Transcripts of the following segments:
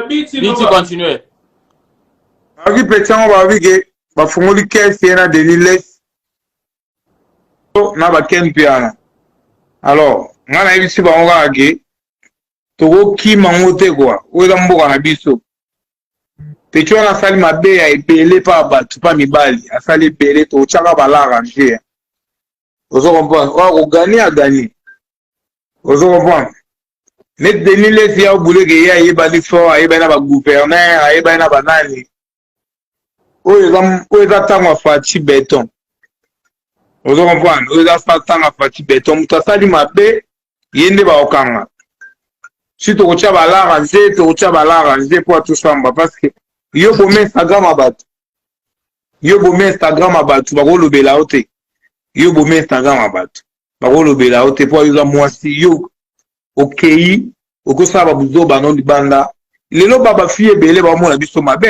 Biti continue. Balobi petit yango balobi ke bafungoli kese ye na Denis Les na baken mpe wana. Alors, ngai nayebisi bango kaka ke tokokima yango te kwa oyo eza mboka na biso peti wana asali mabe ya ebele mpa bato mpa mibali asali ebele totyaka balarage ozo comprendre oyo akogani agani ozo comprendre neti denis lesi ya obuleke ye ayebani fort ayebani na bagouverneur ayebani na banani oyo eza ntango ya faci beton ozo comprendre oyo eza sa ntango ya faci beton moto asali mabe ye nde bakokanga si tokotya balara nze tokotya balara nze mpo atosamba parce que yo boma instagram ya bato yo boma instagram ya bato bakolobela yo te yo boma instagram ya bato bakolobela yo te mpo ayoza mwasi yo okei okosala babuzoba no libanda lelo ba bafi ebele baomona biso mabe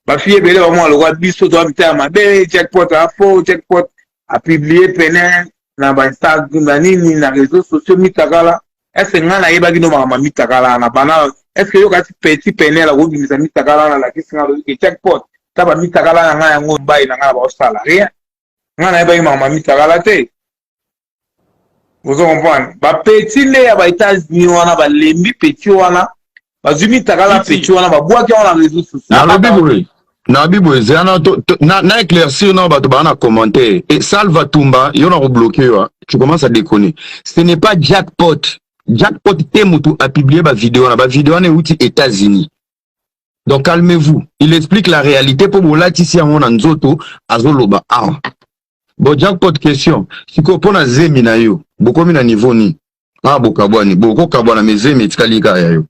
bafi ebele baomona lokola biso toa mita ya mabe jackpot afo jackpot apiblie pene na bainstagram na nini na réseau sociaux mitakala ese ngai nayebaki no makambo ya mitakala na bana eske yokati petit penel akobimisa mitakala na lakisi ngai loyoke jackpot ta bamitakala na ngai yango mbai na ngai na baosala rien nga nayebaki makambo ya mitakala te ozo comprendre bapeti nde ya baetats-unis wana balembi peti wana bazwi mitakala peti wana babwaki yango na réseau socialnalobi boye nabi boye zana na éclaircir na bato baa na commentaire e salva tumba yo na kobloke yo ah. tu commence à déconner ce n'est pas jackpot jackpot te motu apublie bavideo wana bavideo wana euti états-unis donc calmez-vous il explique la réalité mpo bolatisi yango na nzoto azoloba awa bo jackpot question sikoyo mpo na zemi na yo bokomi na niveau nini awa bokabwani bokokabwana me zemi etikali kaka ya yo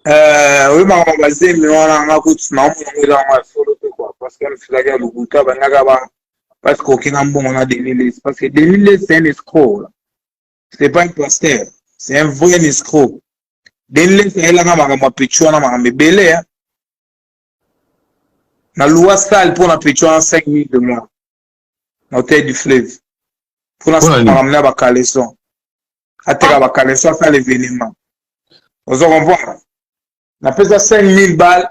Euh, oyo makambo bazemi wana nga kutu naomona ngo eza yango ya solo te kua parce que misilaki ya lokuta bandaka ba parce que okenga mbongo na denilis parce que denilis c'est un escroc c'est pas un pasteur c'est un vrai escroc denles ayelaka makambo ya pecho wana makambo ebele hein? na loi sale mpo na pecho wana 5 minutes de moi na hotel du fleuve mpo na makambo na bacaleson ateka ah. bacaleson asala événement ozo comprendre napesa 5000 balle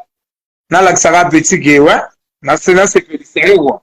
nalakisaka petit ke we nasepelisa ye wa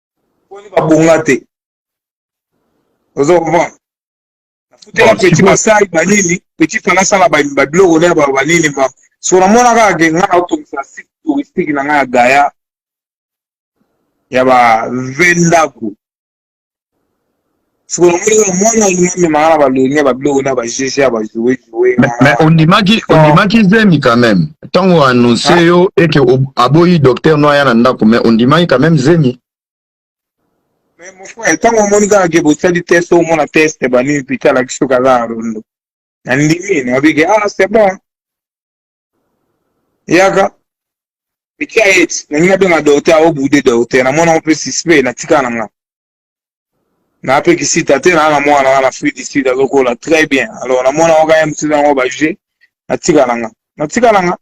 boni babonga te ozo comprendre nafutela petit masai banini petit fana asala babiloko na ba banini ba so namona kaka ke ngai naotongisa site touristique na ngai ya gaya ya ba ve ndako siko namoni kaka mwana alingi amemaka na baloni ya babiloko na bajg ya bajoue joue mais ondimaki ondimaki zemi quand même ntango oannonce ah. yo eke aboyi docteur no aya na ndako mais ondimaki quand même zemi mais mon frère ntango omoni kaka ke bosali test omona test banini pita alakisi yo kaza ya rondo nandimi nabike ah c'est bon yaka etia ete nalingi nabenga docteur aobude docteur namonango mpe suspect natikala na ngai na apekisi tate na na mwana na na fruit du sud azokola très bien alors na mwana oka ya msina yango baje natika nanga natika nanga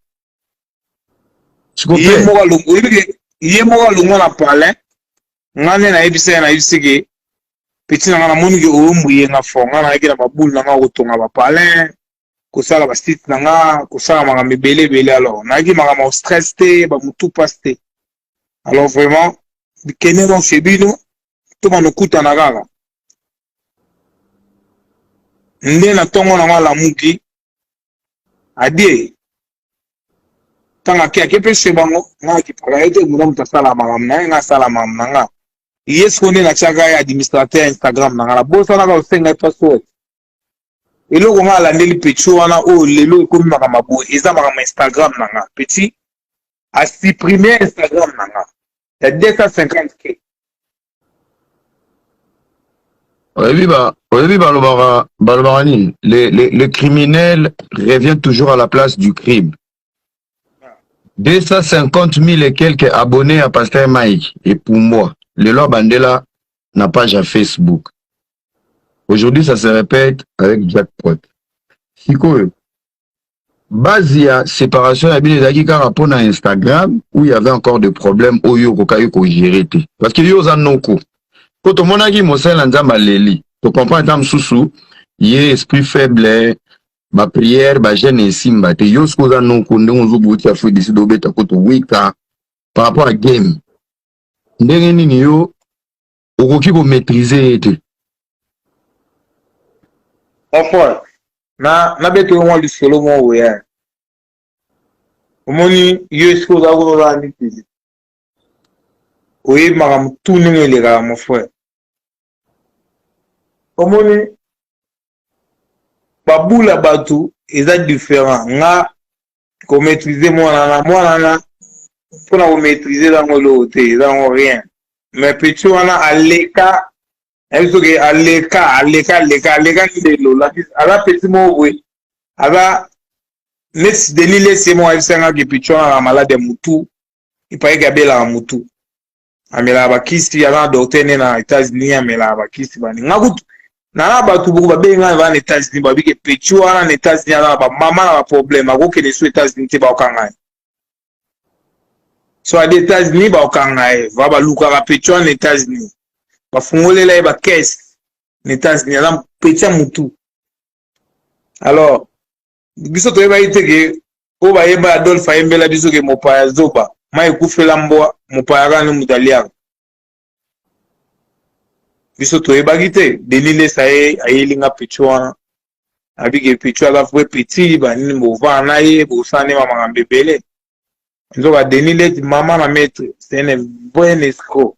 ye moko alongo oyebi ke ye moko alongo na palin nga nde nayebisa ye nayebisi ke peti na nga namoni ke oyombuye nga fort nga nayaki na babule na nga kotonga bapalin kosala ba site na nga kosala makambo ebele ebele alors nayaki makambo ya stress te ba mutu pasi te alors vraiment bikende no chez bino toma nokutana kaka nde na ntongo na ngo alamuki adie ntango ake ake mpe chez bango nga akipaka ye te mutu mutu asala makambo na ye nga asala makambo na nga ye siko nde natiaka ye administrateur ya instagram na nga nabosanaka osenga ye password eloko nga alandeli petit wana oyo lelo ekomi makambo boye eza makambo instagram na nga petit asupprime instagram na nga ya 250 k oyebi ba oyebi balobaka balobaka nini le, le, le criminel revient toujours à la place du crime 250 000 et quelques abonnés à Pasteur Mike et pour moi, le loi Bandela n'a pas à Facebook. Aujourd'hui, ça se répète avec Jack Pot. Sikoyo, base ya séparation ya bino ezalaki kaka mpo na Instagram où il y avait encore des problèmes oyo okokaki kogere te parce que yo oza noko mpo tomonaki mosali na nzambe aleli tocomprend ata mosusu ye esprit faible ba prière ba jeune esimba te yo soki oza noko ndenge ozoboti ya fue desi dobeta kutu wika par rapport à game ndenge nini yo okoki komaîtrise ye te enfant na nabeta yo mwa lisolo mwa oya omoni yo esika oza kuna oza na mitezi oyebi makambo tu ndenge elekaka mon frère omoni babula bato eza différent nga komaîtrise mwana na mwana na mpo na komaîtrise ezango eloko te ezango rien mais petit wana aleka nayebi soki aleka aleka aleka aleka ndelo aza petit moko boye aza neti denis lesi ye moko ayebisangaki petit wana na malade ya motu epayaki abelaka motu amelaka bakisi aza na docteur ne na états-unis amelaka bakisi bani nga kutu nana bato boko babengi ngai baa na états-unis babike petit wana na états-unis aza na bamama na baproblème akokende so états-unis te baokanga ye so adi états-unis baokanga ye va balukaka petit wana na états-unis bafungolela ye bakese na états-unis aza petit ya motu alors biso toyebaki te ke oyo bayeba adolphe ayembela biso ke mopaya zoba mai ekufela mbwa mopaya kaka nde moto aliaka biso toyebaki te denis lesa ye ayeli nga picho wana abike picho aza vrai petit banini bovaa na ye bosala nde bamakambo ebele nzoka denis leti mama na maître c'est un bon escroc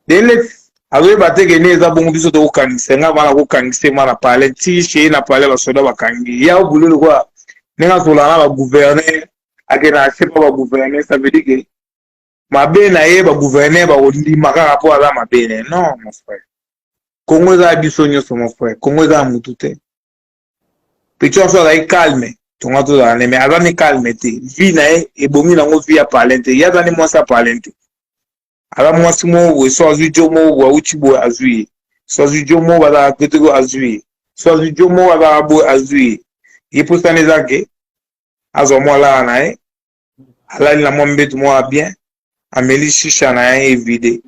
denis leti azoyeba te ke nde eza bongo biso tokokangisa nga bana kokangisa nga na palais ti shei na palais basoda bakangi ya bule lokola ndenge azola na bagouverneur akenda na sepa bagouverneur ça veut dire ke mabe na ye bagouverneur bakondima kaka mpo aza mabe ne non mon frère kongo eza ya biso nyonso mon frère kongo eza ya motu te Pichon so azali calme tonga tozala ne me aza ni calme te vie na ye ebongi nango vie ya palin te ye aza ni mwasi ya palin te aza mwasi moko boye so azwi jo moko boye awuti boye azwi ye so azwi jo moko bazalaka peteko azwi ye so azwi jo moko azalaka boye azwi ye ye mposana eza ke azwa mwa lala na ye alali na mwa mbetu moko ya bien ameli shisha na ye evide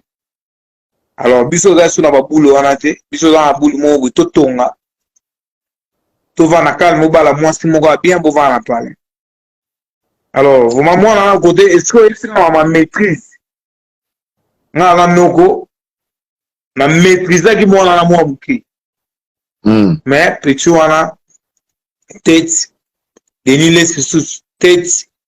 alors biso oza so na babulu wana te biso oza na bulu moko boye totonga tovanda calme obala mwasi moko ya bien bovanda na palais alors vraimen mwana na kote esiko oyebisi nga ma maîtrise nga na noko na maîtrisaki mwana na mwa moke hmm. mais petit wana tete denis les lisusu tete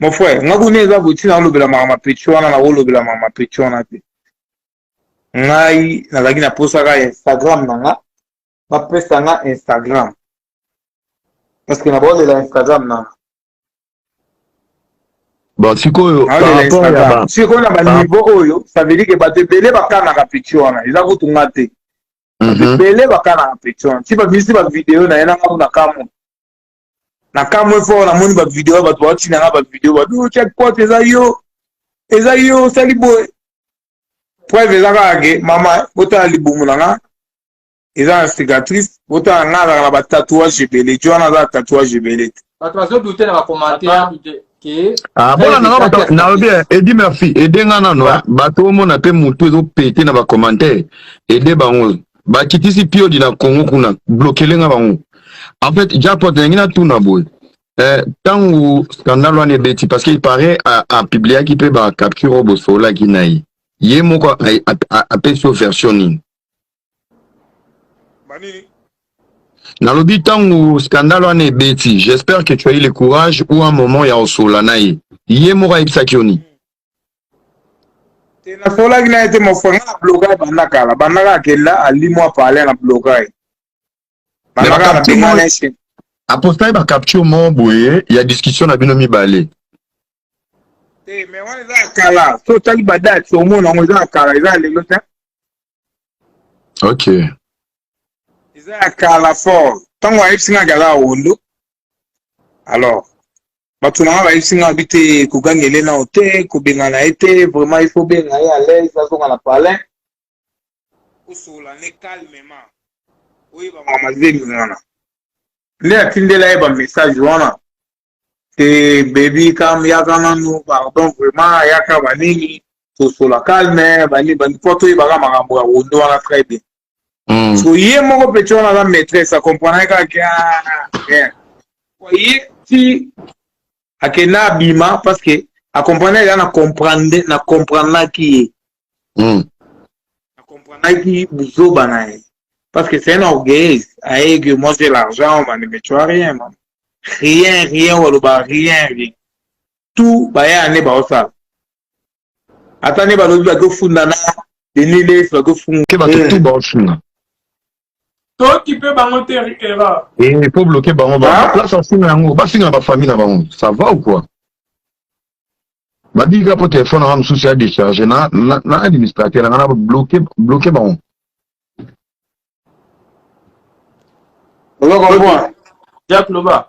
mon frère nga kuna eza boti naolobela maka mapeti wana nakolobela maka mapeti wana te ngai nazalaki na posaka instagram na nga bapesa nga instagram parce que nabaolela instagram na nga bon sikoyo sikoyo na baniveau oyo ça veut dire ke bato ebele bakanaka peti wana eza kutu nga te mhm. bato ebele bakanaka peti wana ti babimisi bavideo na ye na ngambo na kamwe na kamwe fort namoni bavideo bato baotina nga bavideo babi otia cote eza yo eza yo osali boye preuve eza kaka ke mama botala libumu na nga eza na cicatrice botala nga azalaka na batatouage ebele ti wana aza na tatouage ebele te bato bazodute na bacommentaire Ah, mpo na nanga bato nalobi edi merci ede nga nano bato omona mpe motu ezopete na bacommentaire ede bango bakitisi piodi na congo kuna blokele nga bango en fait japot nalingi natuna boye eh, ntango eh, scandale wana ebeti parce qu'il paraît apubliaki mpe bacapture oyo bosololaki na ye ye moko apesi yo version nini nalobi ntango scandale wana ebeti j'espère que tu as eu le courage ou un moment ya osola na ye ye moko ayebisaki yo nini te nasolaki na ye te mofre nga na bloka ye banda kala bandaka akenda alimwa pale na bloka ye bandaka na benga na ye apostaki bacapture moko boye ya discussion na bino mibale te me wana eza ya kala so otali badate omona yango eza ya kala eza ya lelo te ok eza ya kala fort ntango ayebisi nga gala awondo alors bato na nga bayebisi nga bi te kogangele nao te kobengana ye te vraiment il faut benga ye à l'aise azonga na palin osola ne calmement oyeba mama zemi wana nde atindela ye bamessage wana te baby kam yaka nanu pardon vraiment yaka banini tosola calme bani bani mpo toyebaka makambo ya wondo wana très bien mm. so ye moko peti wana aza maîtresse akomprenaki kaka ah, ye ti akenda abima parce que akomprenaki ya na comprendre na comprendaki ye mm. na comprenaki buzoba na ye parce que c'est un orgueil aye que moi j'ai l'argent mani mais tu as rien man rien rien waloba rien rien tout baya ne baosala ata ne balobi bakofunda na denile bakofunga ke bato tout baosunga tokipe bango te erreur eh, po bloke bango place asinga yango basinga na bafamille na bango ça va ou quoi babika mpo telefone nanga mosusu ya décharge na, na, na administrateur nanga na bloke bloke bango ozokomprendre jack loba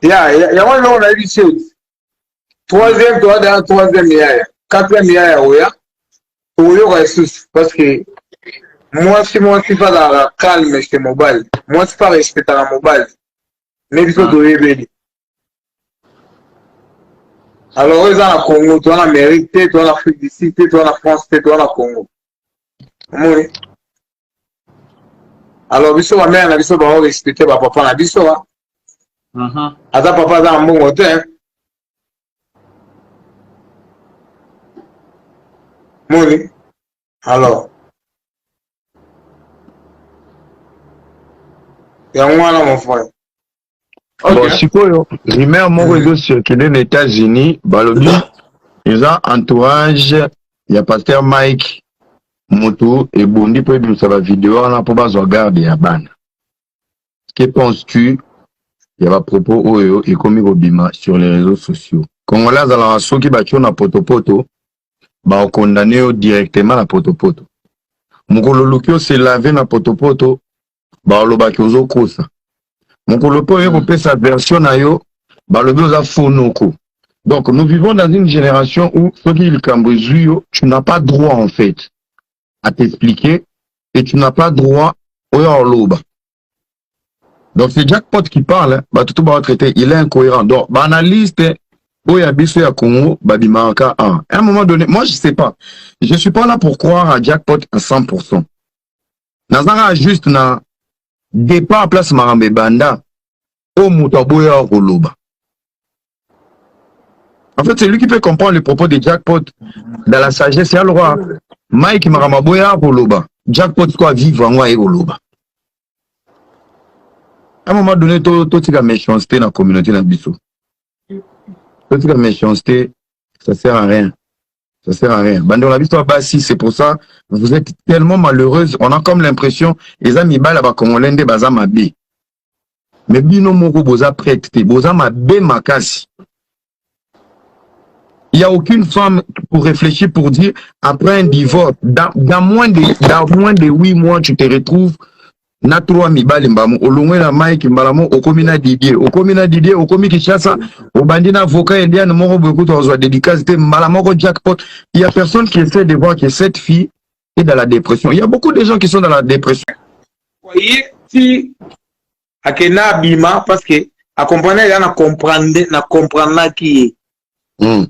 ya yango eloko nayebi seti troisième toa dana troisième yaya quatrième yaya oya tokoyoka lisusu parce que mwasi mwasi mpe azalaka calme chez mobali mwasi mpe arespectaka mobali me biso ah. toyebeli alors oyo eza na congo toa na amérique te toa na afrique du sud te toa na france te toa na congo omoni alors biso bamere na biso bao respecte bapapa na biso wa mhm. aza papa aza na mbongo te moni alors yango wana mon frère okay. bon sikoyo rumeur moko ezo circule na états-unis balobi eza entourage ya pasteur mike motu ebondi mpo ebimisa bavideo wana mpo bazwa garde ya bana Que penses-tu ya ba propos oyo ekomi kobima sur les réseaux sociaux? Congolais azalaka soki batio na potopoto ba condamne yo directement na potopoto. Mokolo oluki ose lave na potopoto balobaki ozokosa. Mokolo mpe oye hmm. kopesa version na yo balobi oza fonoko. Donc nous vivons dans une génération où soki likambo ezui yo tu n'as pas droit en fait. à t'expliquer et tu n'as pas droit oya oloba donc c'est jackpot qui parle bato to baotraite il est incohérent donc baanalyste oyo ya biso ya congo babimaka a un moment donné moi je sais pas je suis pas là pour croire à jackpot à 100 pourcent nazaka juste na départ place makambo ebanda oyo moto aboyaka koloba en fait celui qui peut comprendre le propos de jackpot dans la sagesse ya lwa mike makambo aboyaka koloba jackpot ko avivre yango aye koloba à un moment donné totika méchanceté na communauté na biso totika méchanceté ça sert à rien ça sert à rien bande na biso basi c'est pour ça vous êtes tellement malheureuse on a comme l'impression eza mibala bakongolais nde baza mabe me bino moko boza prete te boza mabe makasi il y a aucune femme pour réfléchir pour dire après un divorce dans, dans moins de dans moins de 8 mois tu te retrouves na trois mibali mbamu olongwe na mike mbala moko okomi na didie okomi na didie okomi kinshasa obandi na avocat eliane moko boye kutu azwa dedicace te mbala moko jackpot il y a personne qui essaie de voir que cette fille et dans la dépression. Il y a beaucoup de gens qui sont dans la dépression. Voyez, si akenda abima parce que akomprenaki ya na comprendre na comprenaki ye hmm.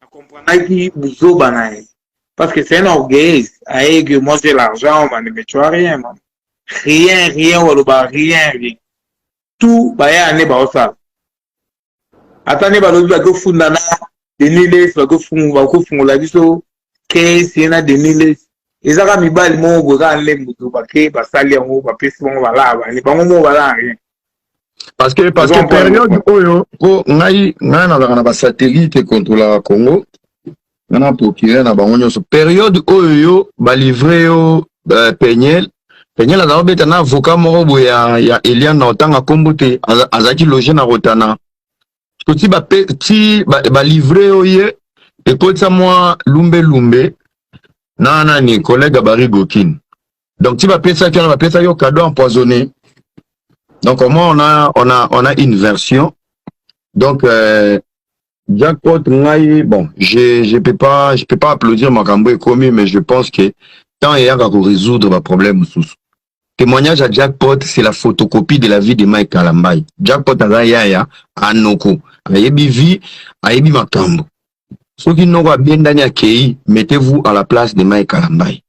na comprenaki buzoba na ye parce que c'est un orgueilliste aye que moi j'ai l'argent mane mais tu as rien man rien rien oloba rien rien tout baya ane baosala ata nde balobi bakofunda na deniles bakofungola biso kesi na deniles ezaka mibali moko boye kaka nde moto bake basali yango bapesi bango balaa bani bango moko balaa rien parce que parce que période oyo mpo ngai ngai nazalaka na basatellite ekontrolaka congo na procureur na bango nyonso periode oyo yo balivre yo uh, peniel peniel aza kobeta na avocat moko boye ya, ya eliane na otanga nkombo te azalaki loge na rotana to ti balivre ba yo ye ekotisa mwa lumbelumbe na nani collègue bari gokin donc ti bapesaki wana bapesaki yo cadeau empoisonné donc au moins on a, on a, on a une version donc euh, Jackpot ngai bon, je je peux pas je peux pas applaudir makambo ekomi mais je pense que temps eyaka ko résoudre ba problème mosusu. Témoignage à Jackpot c'est la photocopie de la vie de Mike Kalambay. Jackpot aza yaya anoko ayebi vie ayebi makambo. Soki noko abendani akei, mettez-vous à la place de Mike Kalambay.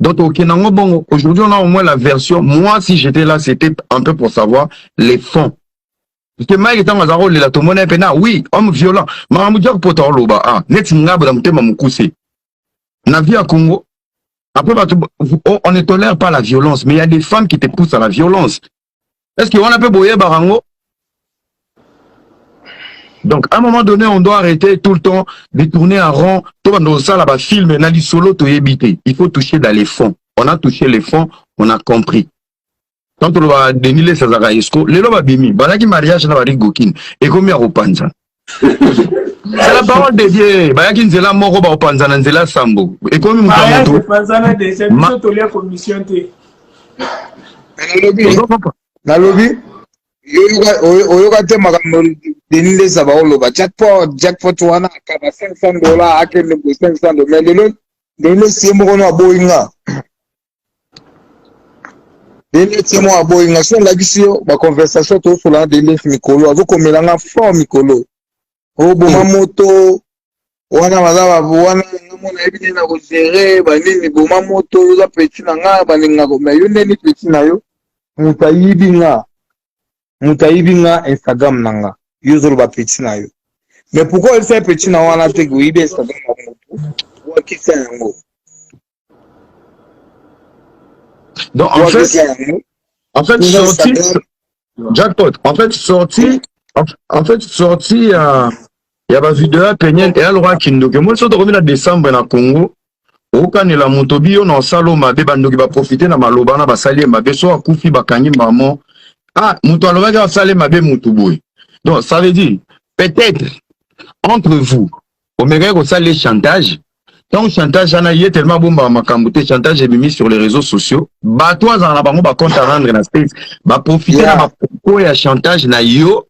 Donc ok nango bongo aujourd'hui on a au moins la version moi si j'étais là c'était un peu pour savoir les fonds parce que Mike ntango azalaka kolela tomona ye mpena oui homme violent makambo dia kopota oloba ah neti ngabo na motema mokuse na vie ya Congo après bato oh, on ne tolère pas la violence mais il y a des femmes qui te poussent à la violence est ce que wana mpe boyebaka yango donc à un moment donné on doit arrêter tout le temps de tourner en rond tobanda kosala bafilme na lisolo toyebi te il faut toucher dans les fonds on a touché les fonds on a compris tant toloba denis les azalaka esco lelo babimi bazalaki mariage na barigokine ekomi ya kopanzana la parole de dieu bayaki nzela moko bakopanzana nzela sambo ekomi moto ya moto bapanzana deja biso tolia commission te nalobi oyoka te makambo deni ndesa baoloba jackpot jackpot wana akaba 500 dola akende bo 500 dola mais lelo deni ndesi ye moko no aboyi nga Dende se mwa boyi nga so ndakisi yo ba conversation to sola na Dende mikolo azo komela nga fort mikolo o boma hmm. moto wana baza ba wana nga mona yebi nini na ko gérer ba nini boma moto yo za petit na nga ba nini nga ko mais yo neni petit na yo muta yibi nga muta yibi nga Instagram na nga yo zolo ba petit na yo mais pourquoi il fait petit na wana te ko yibi Instagram na moto wa kisa yango Donc, en fait, en fait, sorti, jackpot, en fait, sorti, en fait, sorti, euh, il y a ma vidéo à Peniel et à Laura Kindoke. Moi, je suis revenu à décembre dans le Congo. okanela moto biyo na osala mabe bandoki baprofite na maloba na basali ye mabe so akufi bakangi mamo ah moto alobaki asali mabe motu boye donc ça veut dire peut-être entre vous omekaki kosala ye chantage ntango chantage wana ye telema abombaka makambo te chantage ebimi sur les réseaux sociaux bato azala na bango bacompte arendre na states baprofite yeah. na bapropos ya chantage na yo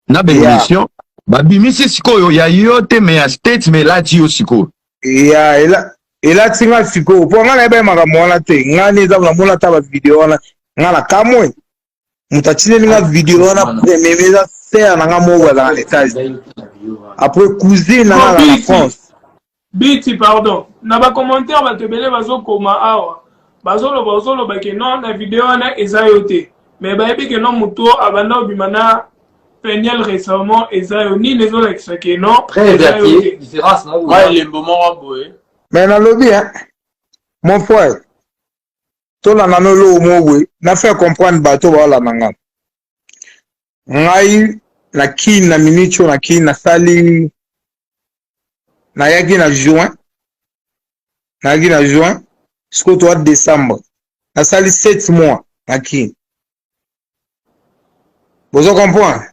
na baémission yeah. babimisi sikoyo ya yo te me ya states me elati yo sikoyo ya ela elati nga sikoyo mpo nga nayebai makambo wana te nga nde eza namona ata bavideo wana nga na kamwe moto atindeli nga video wana premier eza sere na nga moko azala na etage après cousine na nga azala na france biti pardon na bacommentaire bato ebele bazokoma awa bazoloba ozoloba ke non na video wana eza yo te me bayebi ke non moto abanda obima na peniel récemment eza yo nini ezolakisa ke non elembo moko boye me nalobi mon frère tolanda no eloko moko boye na faire comprendre bato baolanda nga ngai na kini na minute oyo na kini nasali nayaki na juin nayaki na juin sikoyo toa décembre nasali 7 mois na kini bozo comprendre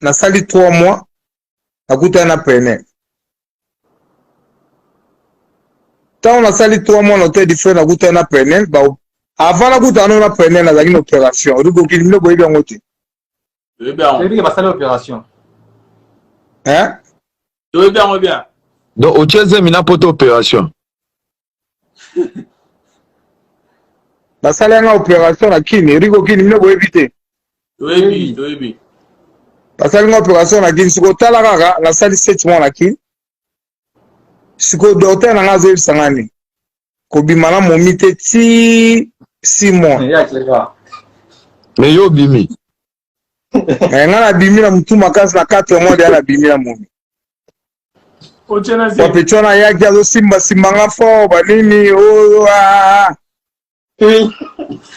nasali 3 mois nakutana na preneur ntango nasali 3 mois na hotel du frère nakutana na preneur avant nakutana no na preneur nazalaki na opération olibokili bino boyebi yango te toyebi yango basali opération toyebi yango bien donc otie zemi na poto opération basali yanga operation na kini rigo kini mino boyebi te toyebi toyebi basali nga operation na kini sikoyo tala kaka nasali sete mois na kini sikoyo docteur na nga azoyebisa nga nini kobima na momi te ti six mois me yo obimi eh, nga nabimi na mutu makasi na 4 mois deya nabimi na momi bapetu wana ayaki azosimbasimba nga fort banini oyo oh, oh, ah, ah, ah.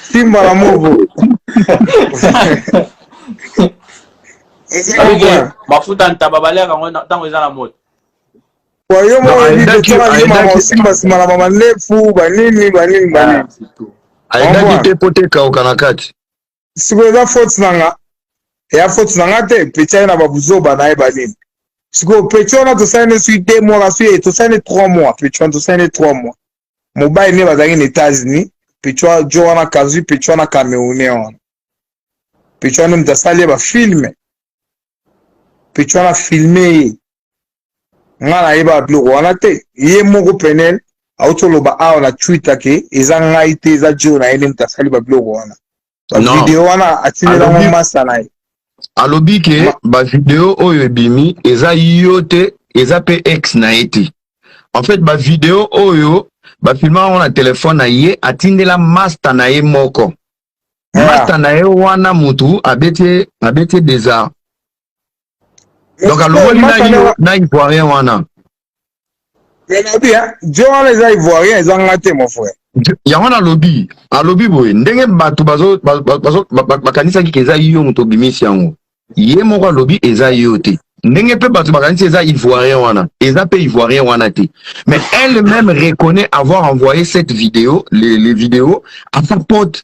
simba na movo mafuta ntaba baliaka yango ntango eza na moto yo moko oyebiaosimba simba na bamanefu banini banini banini aendaki te mpo te ekauka na kati sikoyo eza faute na nga eya faute na nga te peti aye na babuzoba na ye banini sikoyo peti wana tosali ne sui deux mois kasi ye tosali ne trois mois peti wana tosali ne trois mois mobali ne bazalaki na états-unis peti wana jo wana kazui peti wana camerounais wana peti wana moto asali ye bafilme peti wana filme ye nga nayeba biloko wana te ye moko penel auti oloba awa na twitter ke eza ngai te eza jeo na ye nde moto asali babiloko wana bavideo wana atindelango masta na ye alobi ke bavideo oyo ebimi eza yo te eza mpe ex na ye te en fait bavideo oyo bafilma yango na telefone na ye atindela masta na ye moko ah. masta na ye wana motu abeti abeti desar donc alongoli naino na ivoirien wana nalobi jo wana eza ivoirien eza nga te mon frère yango wana alobi alobi boye ndenge bato bakanisaki ke eza yo moto obimisi yango ye moko alobi eza yo te ndenge mpe bato bakanisi eza ivoirien wana eza mpe ivoirien wana te mais elle même reconnaît avoir envoyé cette vidéo les, les vidéos à sa pote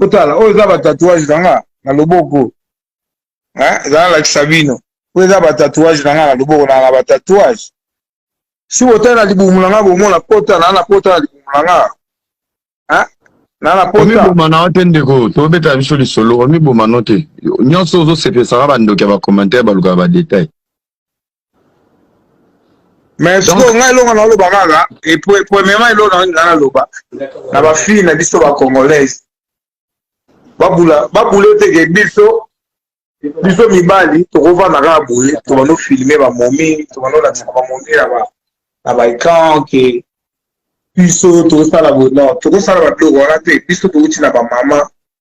otala oyo eza batatouage na nga na loboko eza nalakisa bino oyo eza batatouage na nga na loboko na na batatouage si botali na libumu na nga bomona pota na na pota na libumu na nga na na pota omiboma na yo te ndeko tobeta biso lisolo omiboma no te nyonso ozosepesaka bandoki ya bacommentaire balukaka badetail mais sikoyo ngai eloko naloba kaka premièrement eloko nangi ngai naloba na bafille na biso bacongolaise babule teke biso biso mibali tokovanda kaka boye tobando filme bamomi tobando olakisaka bamomi na baecran ke biso tokosala bono tokosala babiloko wana te biso tokoti na bamama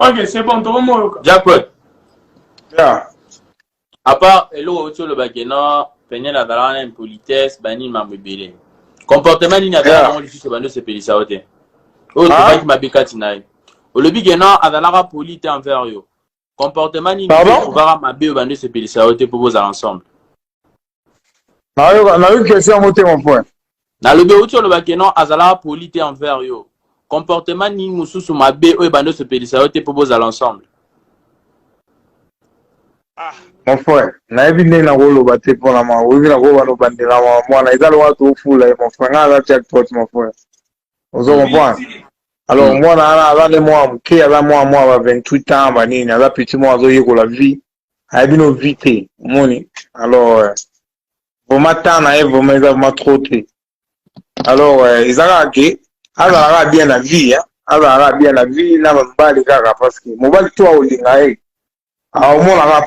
Ok, c'est bon, toko moyoka. Jackpot. Yeah. À part eloko oti olobaki non peniel azala wana impolitesse banini mambo ebele comportement nini azala nango lisusu bando osepelisa yo te oyo tobaki mabe kati na ye olobi ke non azalaka poli te envers yo comportement nini ovaka mabe oyo bando osepelisa yo te mpo bozala ensemble nayoki question yango te mon point nalobi outi oloba ke non azalaka poli te envers yo comportement nini mosusu mabe oyo ebandi osepelisa yo te mpo bozala ensemble ah, mon frère nayebi ndenge nakoloba te mpona ma oyebi nakoba nobandela ma mwana eza lokola toofula ye mon frère ngai aza jackpot mon frère ozo comprendre alors mwana wana aza nde mwana moke aza mwana mwana ba 28 ans banini aza petit mwana azoyekola vie aya bino vie te omoni alors euh, vraimen temps na ye vraimen eza vraimen trop te alors euh, eza kaka ke azala kaka bien na vie azala kaka bien na vie na mobali kaka parce que mobali to aolinga ye aomona kaka